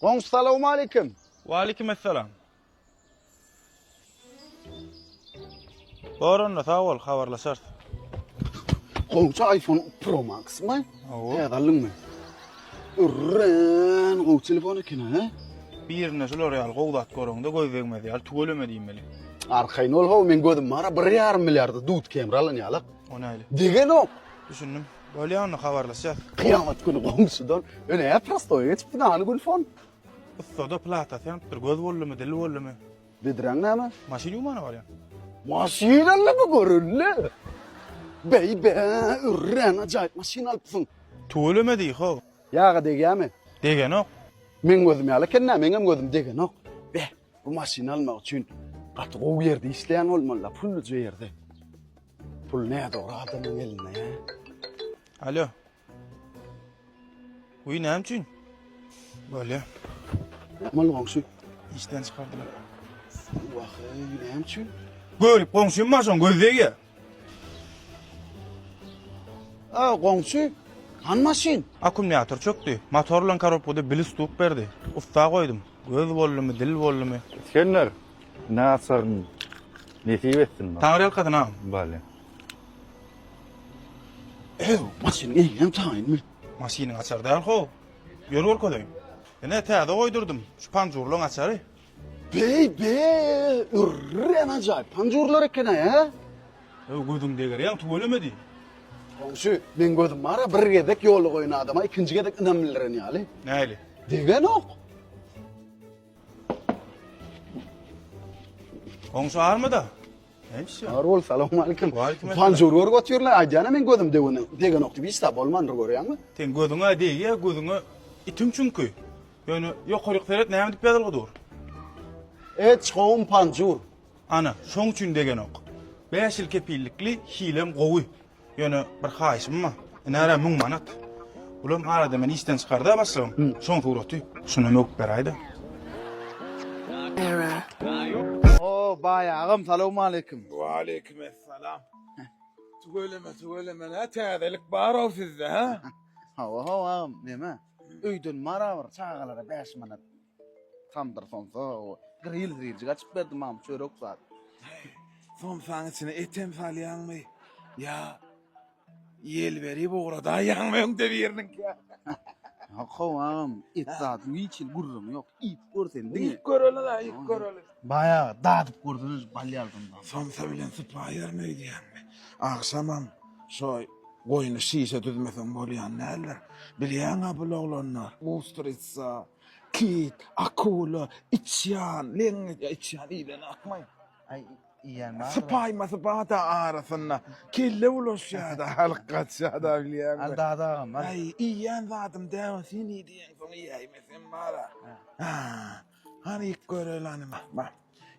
Goňşy salawmaleýkim. Waleýkim essalam. Bor onda sag bol habarlaşarys. Goňşy iPhone Pro Max-my? Hawa. Täze aldyňmy? Örän gowy telefon eken ha. Birinde şular ýaly gowy zat göreňde göz degmez ýaly tüweleme diýmeli. Arkaýyn ol how men gözüm bara 1,5 milliarda dut kemri alan ýalak. O näli? Degenok. Düşündim. Bolýa onda habarlaşýas. Kyýamat güni goňşudan öneýär prostoýa geçip binany Gülfon. Ussada platasy ýanypdyr göz boldumy dil boldumy. Bedreň näme? Maşyn ýuwmana barýan. Maşynyňy bu görüldi. Beý be örän ajaýyp maşyn alypsyň. Tüweleme diý how. Ýaga degýämi? Degenok. Meň gözüm ýaly eken nä meňem gözüm degenok. Beh. Bu maşyny almak üçin gaty gowy ýerde işleýän bolmaly-da, pulluja ýerde. Pul nädogry adamyň elinde. Alo. Uý näme üçin? Bolýa. Näme oldu goňşy? Işden çykardylar. Wah, näme üçin? Görüp goňşym maşyn göz degýär. A, goňşy, han maşyn? Akkumulýator çökdi. Motor bilen korobkada bili stuk berdi. Ussa goýdum. Göz boldumy, dil boldumy. Isgender, näsagyň nesip etsin maňa. Taňryýalkasyn, agam. Bale. Ew, maşynyň eýýäm taýynmy? Maşynyň açary däl-how. Ýör görkezeýin. Ine, täze goýdurdym. Şu panjurlaryň açary. Beý beý, örän ajaýyp panjurlar eken-aý, hä? Öý, gözüň deger, ýaň tüweleme diý. Goňşy, meň gözüm bar-a, bir gezek ýolugaýyn adama ikinji gezek ynam bildiren ýaly. Näli? Degenok. Goňşy army-da? Näçe? Bar bol, salowmalikim. Waleýkim assalam. Panjur görüp otyrlar, aýdýan-a meň gözüm degeni, degenok diýip, hiç zat bolmandyr görýäňmi? Seň gözüň-ä degýä, gözüňe itiň çünki. Ýöne ýokaryk seret näme dip ýazylgy dur. Eç gowum panjur. Ana, şoň üçin degenok. Bäş ýyl kepillikli hilem gowy. Ýöne bir haýyşym bar. Ynara müň manat. Bulam arada meni işden çykarda başlygym. Şoň suraty. Şuna möwüp beräýdä. O, baý agam, salowmaleýkim. Waleýkim essalam. Tüweleme, tüweleme, nä täzelik bar-ow sizde, hä? Hawa, hawa agam, neme? Öýden barabr çagalara bäş manat tamdyr somsa we gril zriljik açyp berdi mam çörek zat. Somsaň içine etem salýaňmy ýa ýel berip ugradaýaňmy öňde biriniňkä? Ýok howam et zat hiç hil gürrüň ýok. Iýip görsen diňe. Iýip göreli la iýip göreli. Baýa dadyp görseniz bal ýardymdan. Somsa bilen sypaýaryn öýdýäňmi? Agşamam şo goýny şişe düzmeseň bolýan däldir. Bilýäň-ä bul oglanlar, ustritsa, kit, akula, içýan, leňňeç, ýa içýan iýlenokmy? Aý, iýýän bardyr. Sypaýmasy bar-da arasynda. Kelle bulaşýa-da, halk gaçýa-da bilýäňmi? Al dada agam, al. Aý, iýýän zadym däw-ä, sen iý diýeňsoň iýäýmesem bar-a. Hä. Hany ilk göreli hany bak bak.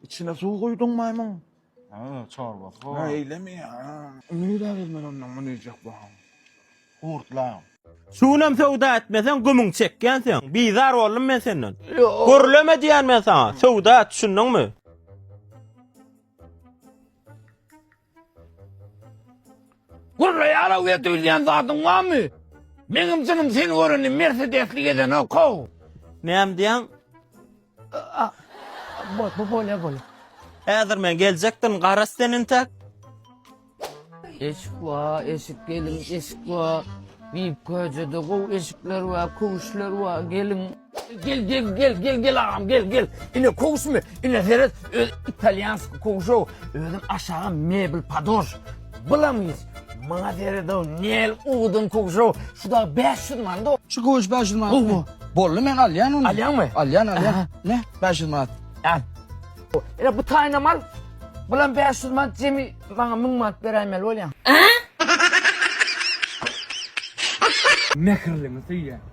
İçine su koydun maymun. Ha, çorbası Ha var. öyle mi ya? Neyler elmen ondan mı neyecek bu han? Kurtla. Şu günem söwda etmeseň, gümüň çekýän sen. Bizar boldum men senden. Gürleme diýýän men saňa. Söwda et, düşündiňmi? Gurraýar-ow we duýulýan zadyň barmy? Meňem jynym seni görende mersedesli gezenok-ow. Näme diýýäň? A-a. Bol-bol, bolýar, bolýar. Häzir men geljekdirin, garaz sen entek. Eşik bar, eşik, gelin, eşik bar. Biýik köjede gowy eşikler bar, köwüşler bar, gelin. Gel gel gel gel gel agam gel gel. Ine kowuş mi? Ine seret öz italýansk kowuşow. Özüm aşaga mebel padoş. Bulamyz. Maňa seret o nel uwdun kowuşow. Şu da 500 manat o. Şu kowuş 500 manat. Bu bu. Bolly men alýan ony. Alýanmy? Alýan alýan. Ne? 500 manat. Al. Ine bu taýna mal. Bulam 500 manat jemi maňa 1000 manat beräýmeli bolýaň. Mähirlimi söýýän.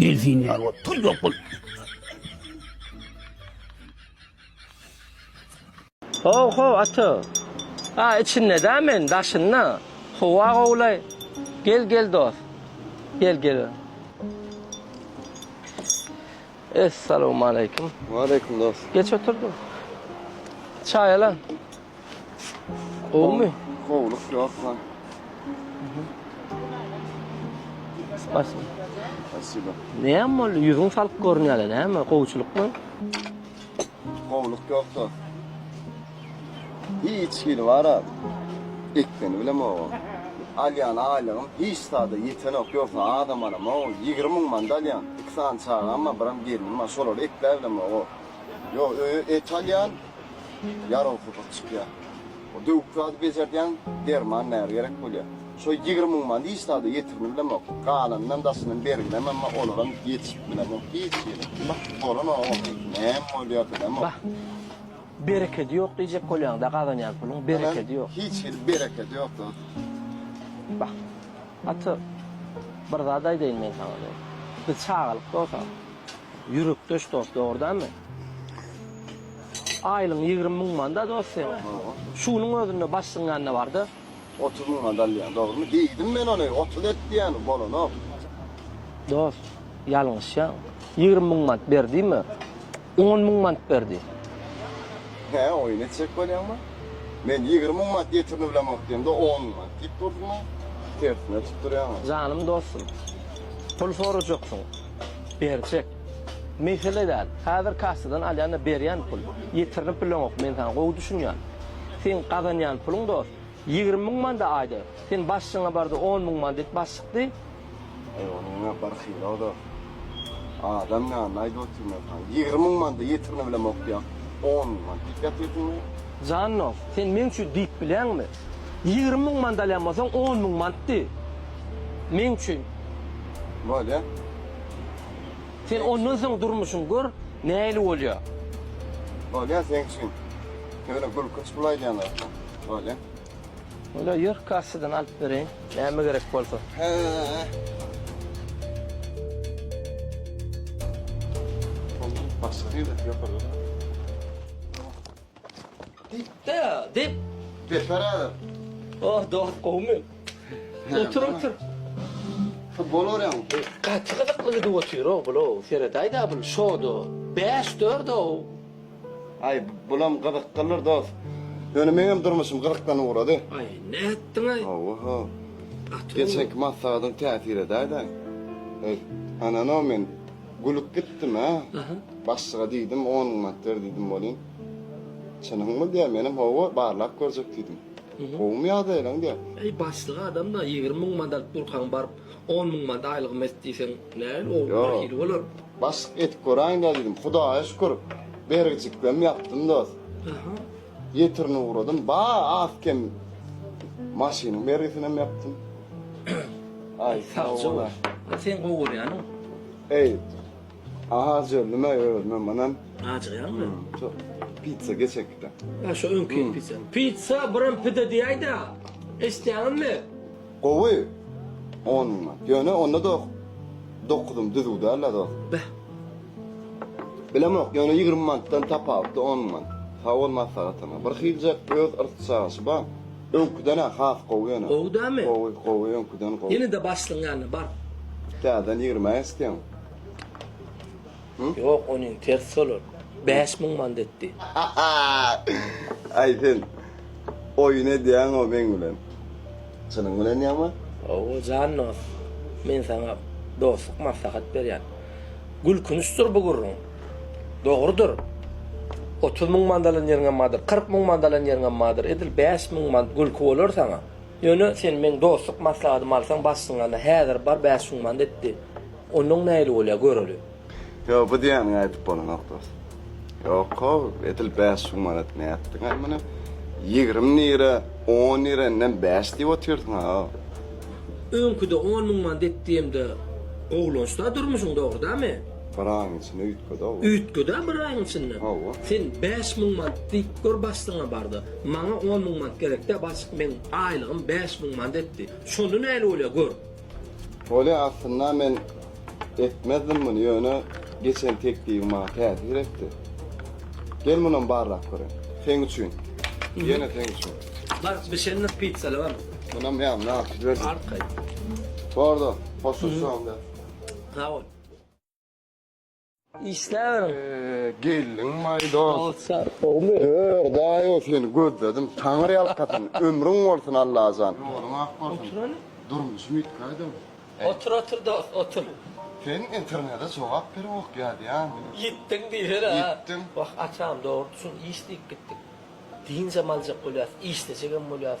Delfin ýaly bol, tuýlak bol. How how ata. A içinde da men daşynda. Howa gowlay. Gel gel dost. Gel gel. Essalowmaleýkim. Waleýkim dost. Geç oturdyň. Çaý ala. Gowumy? Gowluk ýoksa. Spasibo. Spasibo. Näme boldy? Ýüzüň salk görünýär, näme? Gowçulykmy? Gowluk ýoksa. Hiç hili bara. Ekmeni bilem o. Alýan aýlygym hiç zada ýetenok, ýogsa adam alam o. 20 müň manda alýan. Iki sany çagam bar, biram gelnim bar. Şolary ekläbilem o. Ýok, öýe et alýan. Ýaraw hydyr çykýar. O döwük zady bejerdýäň, derman näre gerek bolýar. Şo ýigrimi müň many hiç zada ýetirini bilemok. Galanynam daşyndan berginem emma olaram ýetişip bilemok hiç ýere. Bolan oň oňaýsy näme bolýar bilemok. Bah. Berekedi ýok diýjek bolýaňda gazanýan puluň berekedi ýok. Hiç hili berekedi ýok dos. Bah. Ata, bir zat aýdaýyn men saňa dos. Biz çagalykda bolsa. Ýürekdeş dost dogrudanmy? Aýlygyň ýigrimi müň manda dost seň. Şunuň özünde başlygyň ýanynda barda. Otuz müň manda alýan dogrumy? Diýdim men ony otuz et diýen bolanok. Dost ýalňyşýaň. Ýigrimi müň mant ber diýme. On müň mant ber diý. Hä oýun etjek bolýaňmy? Men ýigrimi müň mant getirini bilemok diýemde on müň mant diýip durdyňa. Tersine tutdurýaňa. Janym dostum. Pul sorajaksyň. berjek. Mesele däl. Häzir kassadan alýan-da berýän pul. Ýetirinip bileňok, men saňa gowy düşünýän. Seň gazanýan puluň dost, ýigrimi müň man-da aýda. Sen başlygyňa bar-da, on müň man diýip başlyk diý. Aý, onuň näme bir hyry-da. Adam ýanyna aýdyp otyryn men saňa. Ýigrimi müň man-da ýetirinibilemok diýýäň, on müň man diýip ýatyrsyň-da. Jan dost, sen meň üçin diýip bileňmi? Ýigrimi müň mant alýan bolsaň, on müň mantdy meň üçin. Bolýa. Sen ondan soň durmuşyň gör, nähili bolýa. Bolýa seň üçin. Şeýle gülkünç pul aýdýan zatlar. Bolýa. Bolýa, ýör, kassadan alyp bereýin, näme gerek bolsa. Hä. Dipde, dip. Deper adam. Oh, dost, gowmy? Otur, otur. Futbol görýäň. Gaty gyzykly gidip otyr o, bula, seredäýdä bul, şoda, bäş, dörd, o. Aý, bulam gyzyklydyr, dost. Ýöne meňem durmuşym gyzykdan ugrady. Aý, nätdiň-aý? Hawa-ha. Geçenki maslahatyň täsir edäýdä. Aý, anano men Gülüp gitdim-ä. Başlyga diýdim, on gün wagt ber diýdim welin, Çynyňmy diýýär, menem hawa, barlap görjek diýdim. Gowumy ýagdaýlaň diýýär. Eý, başlyk adam-da, ýigrimi müň mant alyp durkaň, baryp, on müň mant aýlygym et diýseň, näl, ol birhili bolar. Başlyk, edip göräýin-dä diýdim. Hudaýa şükür, bergijiklem ýapdym dost. Getirin ugradym. Ba az kem maşynyň bergisinem ýapdym. Aý sagja bol. Sen gowy görýäniň. Eý. Aha jölüme özümem ynam. Ajygýaňmy? Şu pizza geçek gidä. Şu öňki pizza. Pizza birim pide diýäýdä. Eşitýäňizmi? Gowy onunla ýöne onda doh dokuzym düzüw däl la dost. Beh. Bilemok ýöne ýigrimi manatdan tapawutly on manat. Sagbol maslahataňa. Bir hiljek öz yrs çagyşy bar. Öňküden-ä has gowy ýöne. Gowy dämi? Gowy, gowy öňküden gowy. Ýene-de başlygyň ýanyna bar. Täzeden ýigrimi-ä isleýäň. Ýok onin ters solar. Bäş müň mandetdi. Aý sen oýun edýäňo meň bilen. Çynyň bilen ýama? Hawa jan dos. Men saňa dostluk maslahat berýän. Gülkünçdir bu gürrüň. Dogrudyr. Otuz müň mand alan ýeriňem bardyr. Kyrk müň mand alan ýeriňem bardyr. Edil bäş müň mand gülki bolar saňa. Ýöne sen meň dostluk maslahatymy alsaň başyňa alna. Häzir bar bäş müň mandetdi. Onnoň näli bolýar göreli. Ýok bu diýýäniňi aýdyp bolanok dos. Ýok how edil bäş şum manat nätdiňaý muny ýigrimi nirä on nirä indem bäş diýip otyrdyňa how. Öňküde on müň manat et diýemde gowulançda durmuşyň dogry damy. Bir aýyň içinde üýtgedi how. Üýtgedä bir aýyň içinde. Hawa. Sen bäş müň manat diýip gör başlygyňa barda. Maňa on müň manat gerekdä başlyk meň aýlygym bäş müň manat etdi. Şonda näli bolýar gör. Bolýa aslynda men etmezdim muny ýöne geçen teklibiň maňa täsir etdi. Gel munam barlap göreýin. Seň üçin. Ýene seň üçin. Bar bişenlik pizzaly bar. Munam ýaňy alyp jiberdim. Alyp gaýt. Bardo hoşlaşalymda. Sag bol. Işläberiň. Geldiň maý dos. Sag sag gowmy. Hör daýo seni gözledim taňyr ýalkasyn ömrüň bolsun Allajan. Ýoluň ak bolsun. Oturany. Durmuşym ýitgäýdem. Otur otur dos otur. Sen internede jogap berewok ýazýan. Ýitdiň diýiberi ha. Ýitdim. Wah atam dogry düşün iş diýip gitdik. Dynjam aljak bolýas işlejegem bolýas.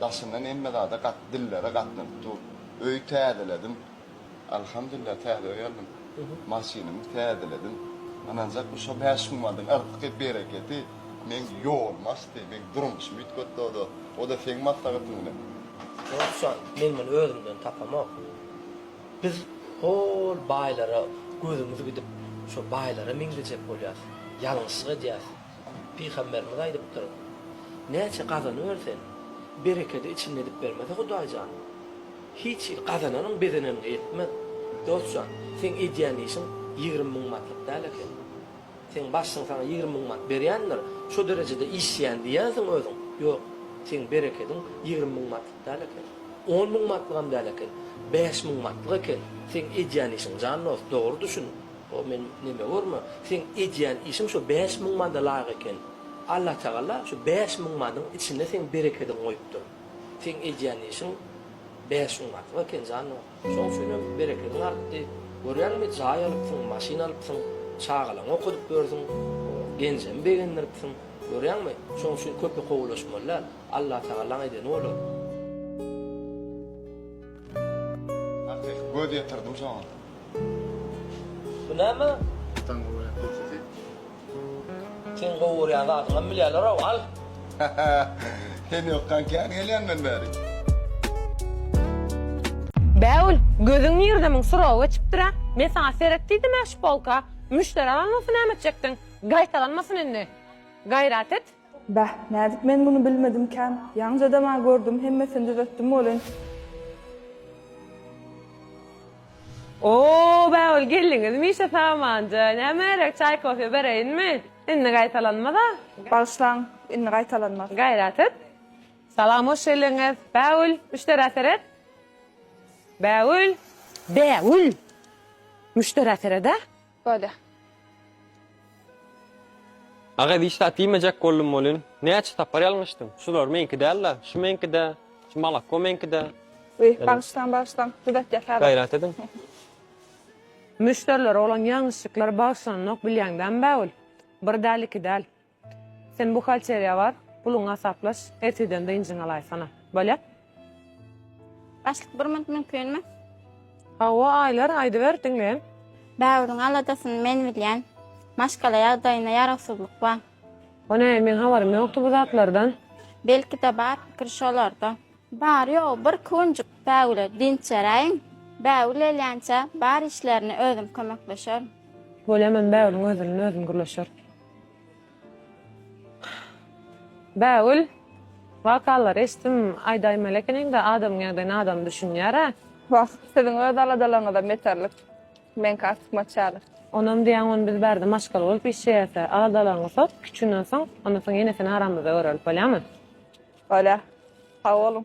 Daşyndan hemme zada gat dillere gatnanyp dur. Öýi täzeledim. Alhamdulillah täze öý aldym. Maşynymy täzeledim. Ynanjak bu şo bäş hummadyň yzky bereketi meň ýolumy açdy, meň durmuşymy üýtgetdi o-da, o-da seň maslahatyň bilen. Ýogsa men muny özümden tapamok. Biz hol baýlara gözümiz gidip şo baýlara meňzejek bolýas. Ýalňyşlyk edýäs. Pygamberimiz aýdypdyr, Näçe gazanybersen, berekedi içinde edip bermese Hudaý jan, hiç hili gazananyň bezeneniňe ýetmez. Dost jan, seň edýän işiň ýigrimi müň matlyk däl eken. Seň başlygyň saňa ýigrimi müň mat berýändir, şo derejede işleýän diýýänsiň özüň. Ýok, seň berekediň ýigrimi müň matlyk däl eken. On müň matlygam däl eken. Bäş müň matlyk eken. Seň edýän işiň jan dost, dogry düşün. O men neme görme. Seň edýän işiň şu bäş müň manda laýyk eken. Allatagala şu bäş müň madyň içinde seň berekediň goýupdyr. Seň edýän işiň bäş müň artyk eken janyň. Şoň üçin hem berekediň artdy. Görýäňmi, jaý alypsyň, maşyn alypsyň, çagalaňy okadyp ýörsüň, genjem begendiripsiň. Görýäňmi, şoň üçin köpe kowulaşmaly däl. Allatagalaň edeni bolar. Akyk göz ýetirdim şoňa. Bu näme? Taň gowurýan pizza. Seň gowurýan zadyňam bilýärler-ow, al! Sen ýokkan kän gelýän men bärik. Bägül, gözüň nirde muň suragy geçipdir-ä. Men saňa seret diýdim-ä şu polka. Müşderi alan bolsa näme etjekdiň? Gaýtalanmasyn indi. Gaýrat et. Bäh, nädip men muny bilmedimkäm? Ýaňjadam-a gördüm, hemmesini düzetdim welin. Oo, bägül geldiňizmişe samanja. Näme gerek, çaý-kofe bereýinmi? Indi gaýtalanmaz-a. Bagyşlaň, indi gaýtalanmaz. Gaýrat et. Salam, hoş geldiňiz. Bägül, müşderä seret. Bägül! Bägül! Müşderä sered-ä. Bada. Aga hiç zat diýmejek boldum welin, näçe sapar ýalňyşdym. Şular meňki däl-de, şu meňki-de, şu malakko meňki-de. Uý, bagyşlaň, bagyşlaň, düzetjek häzir. Gaýrat ediň. Müşderilere bolan ýalňyşlyklary bagyşlanynok bilýäňdämi bägül? Bir däl, iki däl. Sen buhalteriýa bar, puluňy hasaplaş, erteden dynjyňy alaýsana. Bolýar? Başlyk bir minut mümkinmi? Hawa, Aýlar, aýdyber, diňleýän. Bägüriň aladasyny men bilýän. Maşgala ýagdaýynda ýarawsyzlyk bar. O näme, meň habarym ýokdy bu zatlardan. Belki-de bar, pikir şolarda. Bary-ýogy bir künjük Bägüle dynç beräýiň. Bägül gelýänçä bar işlerine özüm kömekleşerin. Bolýar, men Bägüliň özünden özüm gürleşerin. Bägül wakalary eşdim aýdaýmaly ekeniňda adamyň ýagdaýyna adam düşünýärä. Wah siziň öz aladalaryňyza meterlik meňki artykmaç ýaly. Onam diýýäň ony biz bärde maşgala bolup işleýäsä aladalaryňy sot kiçinden soň ondan soň ýene seni aramyzda görerlik bolýamy. Bolýa. Sag boluň.